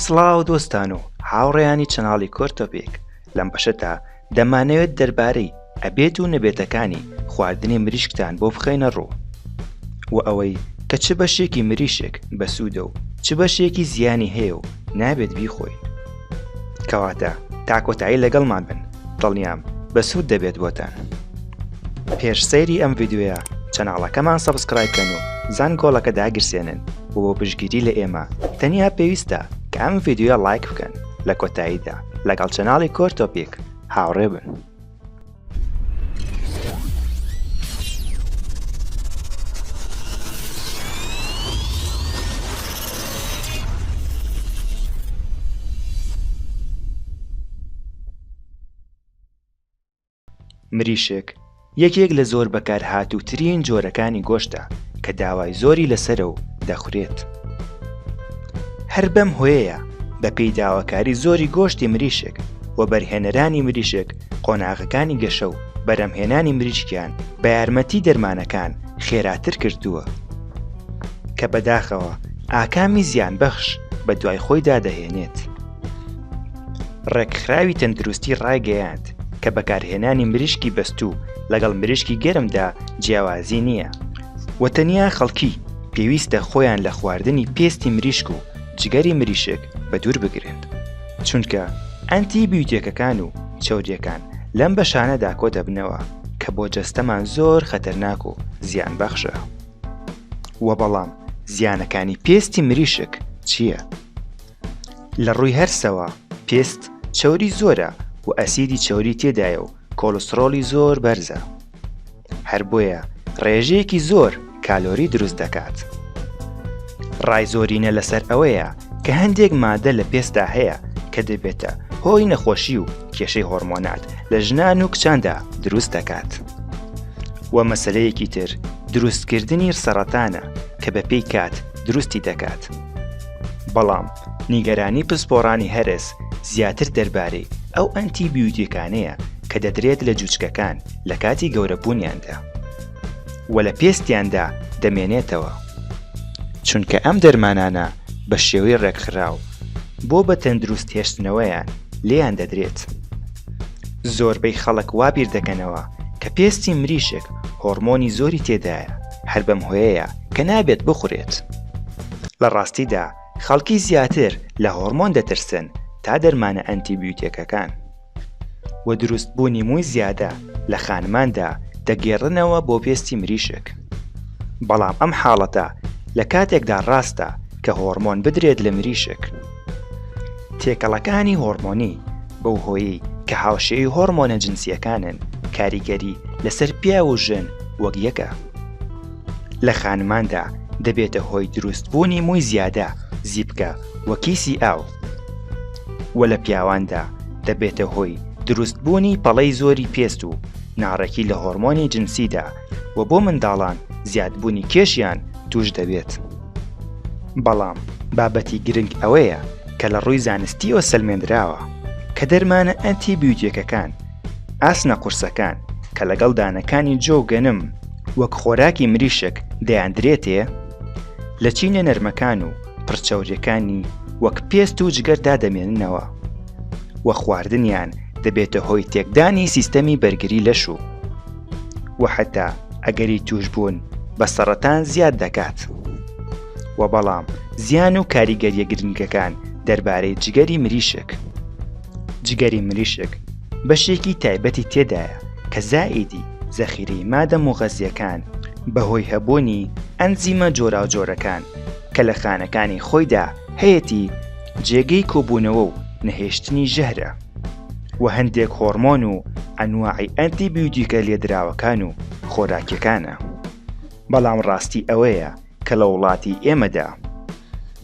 سڵاو دۆستان و هاوڕێیانی چەناڵی کۆر تۆپێک لەم بەشەدا دەمانەوێت دەربارەی ئەبێت و نەبێتەکانی خواردنی مریشکتان بۆ بخەینە ڕوو و ئەوەی کە چ بەشێکی مریشک بەسوودە و چ بەشێکی زیانی هەیە و نابێت بیخۆین کەواتە تا کۆتایی لەگەڵمان بن دڵنیام بەسوود دەبێت بۆتان پێش سەیری ئەم ڤیددیوە چەناڵەکەمان سەبسکرایبکەن و زان گۆڵەکە داگرسێنن و بۆ پشگیری لە ئێمە تەنیا پێویستە کە ئەم ڤیددیوە لایک بکەن لە کۆتاییدا لەگەڵ چەناڵی کۆرتۆپیک هاوڕێ بن. مریشک یەکێک لە زۆر بەکارهاتووترین جۆرەکانی گۆشتە کە داوای زۆری لەسرە و دەخورێت هەر بەم هۆیەیە بەپێی داواکاری زۆری گۆشتی مریشک و بەرهێنەرانی مریشک قۆناغەکانی گەشە و بەرهەمهێنانی مریشکیان بە یارمەتی دەرمانەکان خێراتر کردووە کە بەداخەوە ئاکامی زیان بەخش بە دوای خۆیدا دەهێنێت. ڕێکخراوی تەندروستی ڕایگەیاند کە بەکارهێنانی مریشکی بەستوو لەگەڵ مریشکی گەرمدا جیاوازی نییە و تەنیا خەڵکی پێویستە خۆیان لە خواردنی پێستی مریشک و جگەری مریشک بەدوور بگرن. چونکە ئەنتی بیوتێکەکان و چەوریەکان لەم بەشانەدا کۆ دەبنەوە کە بۆ جەستەمان زۆر خەتەرناک و زیان بەخشە وە بەڵام زیانەکانی پێستی مریشک چییە؟ لە ڕووی هەرسەوە پێست چەوری زۆرە و ئەسیدی چەوری تێدایە و کۆلسترۆلی زۆر بەرزە هەر بۆیە ڕێژەیەکی زۆر کالۆری دروست دەکات. ڕای زۆرینە لەسەر ئەوەیە کە هەندێک مادە لە پێستا هەیە کە دەبێتە هۆی نەخۆشی و کێشەی هۆرمۆنات لە ژنان و کچاندا دروست دەکات. و مەسلەیەکی تر دروستکردنی سەرەتانە کە بەپێی کات دروستی دەکات. بەڵام نیگەرانی پسپۆڕانی هەرس زیاتر دەربارەی ئەو ئەنتی بیوتیکانەیە کە دەدرێت لە جوچکەکان لە کاتی گەورەبوونیاندا و لە پێستیاندا دەمێنێتەوە چونکە ئەم دەرمانانە بە شێوەی ڕێکخراو بۆ بە تەندروست هێشتنەوەیان لێیان دەدرێت زۆربەی خەڵک وابیر دەکەنەوە کە پێستی مریشک هۆڕمۆنی زۆری تێدایە هەر بەم هۆیەیە کە نابێت بخورێت لە ڕاستیدا خەڵکی زیاتر لە هۆڕمۆن دەترسن تا دەرمانە ئەنتی بیوتێکەکان و دروستبوونی مووی زیادە لە خانماندا دەگێڕنەوە بۆ پێستی مریشک بەڵام ئەم حاڵەتە لە کاتێکدا ڕاستە کە هۆڕمۆن بدرێت لە مریشک تێکەڵەکانی هۆڕمۆنی بەو هۆیی کە هاوشێی هۆڕمۆنە جنسیەکانن کاریگەری لەسەر پیا و ژن وەک یەکە لە خانماندا دەبێتە هۆی دروستبوونی مووی زیادە زیپکە و کیسی ئاو و لە پیاواندا دەبێتە هۆی دروستبوونی پەڵەی زۆری پێست و ناڕێکی لە هۆرمۆنی جنسیدا و بۆ منداڵان زیادبوونی کێشیان توش دەبێت بەڵام بابەتی گرنگ ئەوەیە کە لە ڕووی زانستیەوە سەلمێنراوە کە دەرمانە ئەنتی بیوتێکەکان ئاسنە قورسەکان کە لەگەڵ دانەکانی جۆ گەنم وەک خۆراکی مریشک دەیاندرێتێ، لە چینە نەرمەکان و پڕچەوریەکانی وەک پێست و جگەر دادەمێننەوە و خواردنیان دەبێتە هۆی تێکدانی سیستەمی بەرگری لەش و و حتا ئەگەری توشبوون بە سەڕەتان زیاد دەکات و بەڵام زیان و کاریگەریە گرنگەکان دەربارەی جگەری مریشک. جگەری مریشک بەشێکی تایبەتی تێدایە کە زائیدی زەخیرەی مادە مغەزیەکان بەهۆی هەبوونی ئەنزیمە جۆراوجۆرەکان کە لە خانەکانی خۆیدا هەیەتی جێگەی کۆبوونەوە و نەهێشتنی ژەهرە و هەندێک هۆرمۆن و ئەنواعی ئەنتی بیودیکە لێدراوەکان و خۆراکیەکانە بەڵام ڕاستی ئەوەیە کە لە وڵاتی ئێمەدا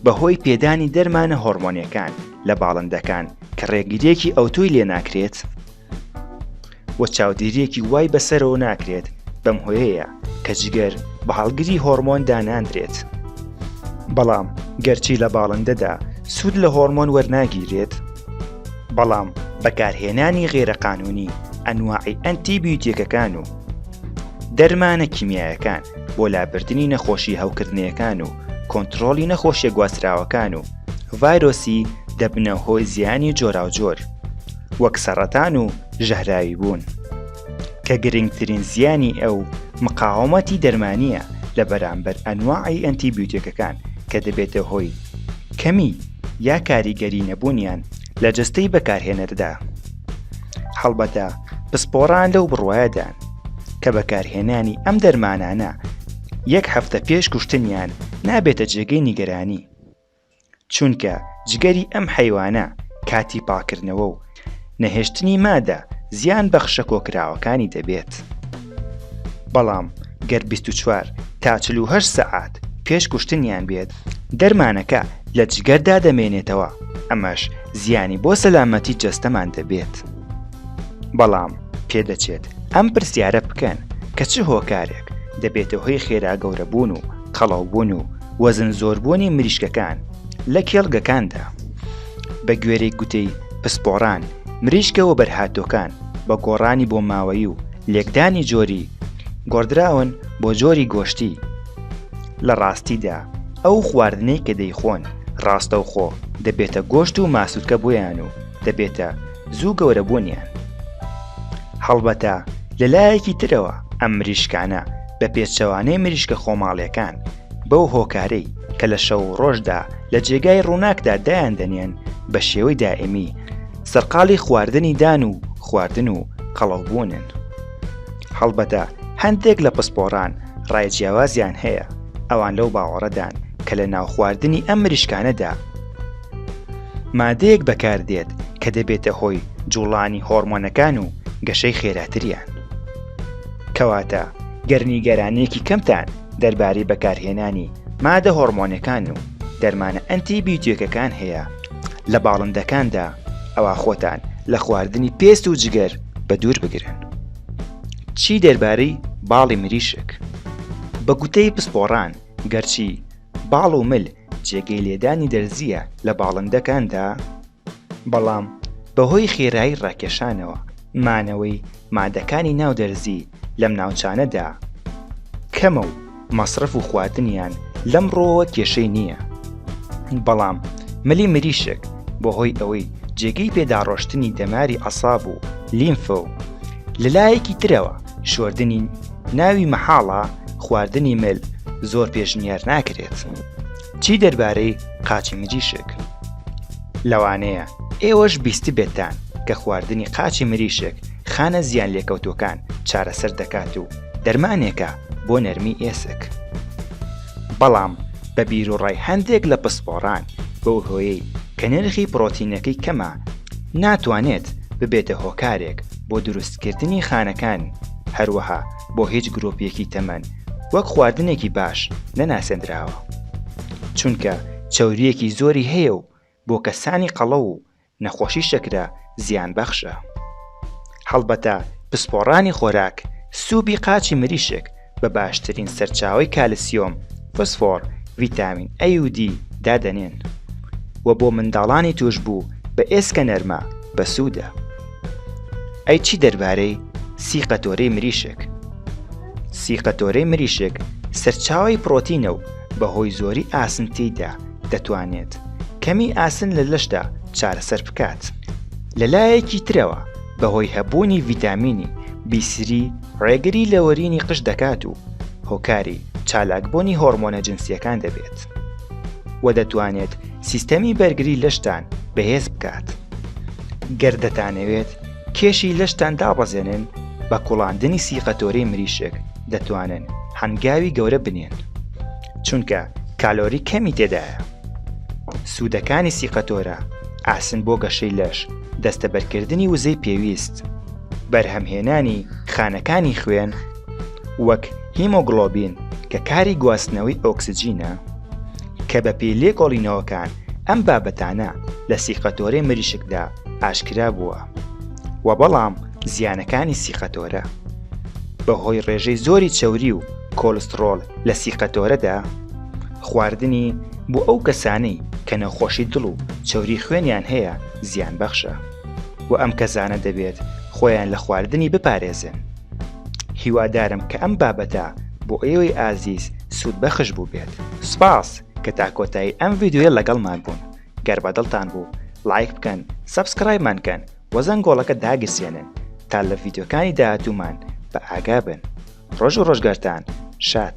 بە هۆی پێدانی دەرمانە هۆڕمۆنیەکان لە باڵندەکان کە ڕێگریەکی ئەوتۆی لێ ناکرێت و چاودێریەکی وای بەسەرەوە ناکرێت بەم هۆیەیە کە جگەر بە هەڵگری هۆرمۆن داناندرێت بەڵام گەرچی لە باڵندەدا سوود لە هۆرمۆن وەرناگیرێت بەڵام بەکارهێنانی غێرەقانونی ئەنواعی ئەنتی بیوتێکەکان و دەرمانە کیمیایەکان بۆ لابردنی نەخۆشی هەوکردنەکان و کۆنتترۆلی نەخۆشیە گواستراوەکان و ڤایرۆسی دەبنە هۆی زیانی جۆراوجۆر وەک سەڕەتان و ژەهراوی بوون کە گرنگترین زیانی ئەو مقاومەتی دەرمانیە لە بەرامبەر ئەنواعی ئەنتی بیوتێکەکان کە دەبێتە هۆی کەمی یا کاریگەری نەبوونیان لە جەستەی بەکارهێنەردا. هەڵبەتە پسپۆڕان لەو بڕوایەدان کە بەکارهێنانی ئەم دەرمانانە یەک هەفتە پێش کوشتنیان نابێتە جێگەی نیگەرانی چونکە جگەری ئەم حیوانە کاتی پاکردنەوە و نەهێشتنی مادە زیان بەخشە کۆکراوەکانی دەبێت. بەڵام گەر بیست و چوار تا چل و هەشت سەعات پێش کوشتنیان بێت دەرمانەکە لە جگەردا دەمێنێتەوە ئەمەش زیانی بۆ سەلامەتی جەستەمان دەبێت بەڵام پێدەچێت ئەم پرسیارە بکەن کە چ هۆکارێک دەبێتە هۆی خێرا گەورەبوون و قەڵاوبوون و وەزن زۆربوونی مریشکەکان لە کێڵگەکاندا بە گوێرەی گوتەی پسپۆڕان مریشکە وەبەرهاتووەکان بە گۆڕانی بۆماوەیی و لێکدانی جۆری گۆڕدراون بۆ جۆری گۆشتی لە ڕاستیدا ئەو خواردنەی کە دەیخۆن ڕاستەوخۆ دەبێتە گۆشت و ماسوولکە بۆیان و دەبێتە زوو گەورە بوونیان هەڵبەتە لەلایەکی ترەوە ئەم مریشکانە بە پێچەوانەی مریشکە خۆماڵیەکان بەو هۆکارەی کە لە شەو ڕۆژدا لە جێگای ڕووناکدا دایان دەنێن بە شێوەی دائمی سەرقاڵی خواردنی دان و خواردن و قەڵەوبوونن. هەڵبەتە هەندێک لە پسپۆڕان ڕای جیاوازیان هەیە، ئەوان لەو باوەڕەدان کە لە ناو خواردنی ئەم مریشکانەدا مادەیەک بەکاردێت کە دەبێتە هۆی جوڵانی هۆڕمۆنەکان و گەشەی خێراتریان. کەواتە گەر نیگەرانییەکی کەمتان دەربارەی بەکارهێنانی مادە هۆڕمۆنەکان و دەرمانە ئەنتی بیوتێکەکان هەیە لە باڵندەکاندا ئەوا خۆتان لە خواردنی پێست و جگەر بە دوور بگرن چی دەربارەی باڵی مریشک بە گوتەی پسپۆڕان گەرچی باڵ و مل جێگەی لێدانی دەرزیە لە باڵندەکاندا بەڵام بەهۆی خێرایی ڕاکێشانەوە مانەوەی مادەکانی ناو دەرزی لەم ناوچانەدا کەمە و مەسرەف و خواردنیان لەم ڕووەوە کێشەی نییە بەڵام ملی مریشک بەهۆی ئەوەی جێگەی پێداڕۆشتنی دەماری عەساب و لیمفە و لەلایەکی ترەوە شۆردنی ناوی مەحاڵە خواردنی مل زۆر پێشنیار ناکرێت. چی دەربارەی قاچی مریشک؟ لەوانەیە ئێوەش بیستبێتتان کە خواردنی قاچی مریشک خانە زیان لێکەوتوەکان چارەسەر دەکات و دەرمانێکە بۆ نەرمی ئێسک. بەڵام بە بیروڕای هەندێک لە پسپۆڕان بەو هۆیەی کە نرخی پڕۆتینەکەی کەمە ناتوانێت ببێتە هۆکارێک بۆ دروستکردنی خانەکان هەروەها بۆ هیچ گرۆپیەکی تەمەن وەک خواردنێکی باش نەناسێندراوە چونکە چوریەکی زۆری هەیە و بۆ کەسانی قەڵە و نەخۆشی شەکرە زیان بەخشە هەڵبەتە پسپۆڕانی خۆراک سوبی قاچی مریشک بە باشترین سەرچاوی کالسیۆم فسفۆر ڤیتامین ئەیودی دادەنێن و بۆ منداڵانی توش بوو بە ئێسکە نەرمە بەسوودە. ئەی چی دەربارەی سی قەتۆرەی مریشک سی قەتۆرەی مریشک سەرچاوی پرۆتینە و بەهۆی زۆری ئاسنتیدا دەتوانێت کەمی ئاسن لە لەشدا چارەسەر بکات لە لایەکی ترەوە بەهۆی هەبوونی ڤیتامینی بیسری ڕێگری لەوەرینی قش دەکات و هۆکاری چالاکبوونی هۆرمۆنە جنسیەکان دەبێت و دەتوانێت سیستەمی بەرگری لەشتان بەهێز بکات گەر دەتانەوێت کێشی لەشتان دابەزێنن بە کوڵاندنی سیقەتۆری مریشک دەتوانن هەنگاوی گەورە بنێن چونکە کالۆری کەمی تێدایە سوودەکانی سیقەتۆرە ئاسن بۆ گەشەی لەش دەستەبەرکردنی وزەی پێویست بەرهەمهێنانی خانەکانی خوێن وەک هیمۆگڵۆبین کە کاری گواستنەوەی ئۆکسجینە کە بە پێی لێکۆڵینەوەکان ئەم بابەتانە لە سیقەتۆرەی مریشکدا ئاشکرا بووە و بەڵام زیانەکانی سیقەتۆرە بەهۆی ڕێژەی زۆری چەوری و کۆلسترۆل لە سیقەتۆرەدا خواردنی بۆ ئەو کەسانەی کە نەخۆشی دڵ و چەوری خوێنیان هەیە زیان بەخشە و ئەم کەسانە دەبێت خۆیان لە خواردنی بپارێزن هیوادارم کە ئەم بابەتە بۆ ئێوەی ئازیز سوود بەخش بوو بێت سپاس کە تا کۆتایی ئەم ڤیددیوە لەگەڵمان بوون گەر بە دڵتان بوو لایک بکەن سەبسکرایبمان کەن وەزەنگ گۆڵەکە داگرسێنن تا لە ڤیددیوکانی داهاتوومان بە ئاگا بن ڕۆژ و ڕۆژگارتان شاد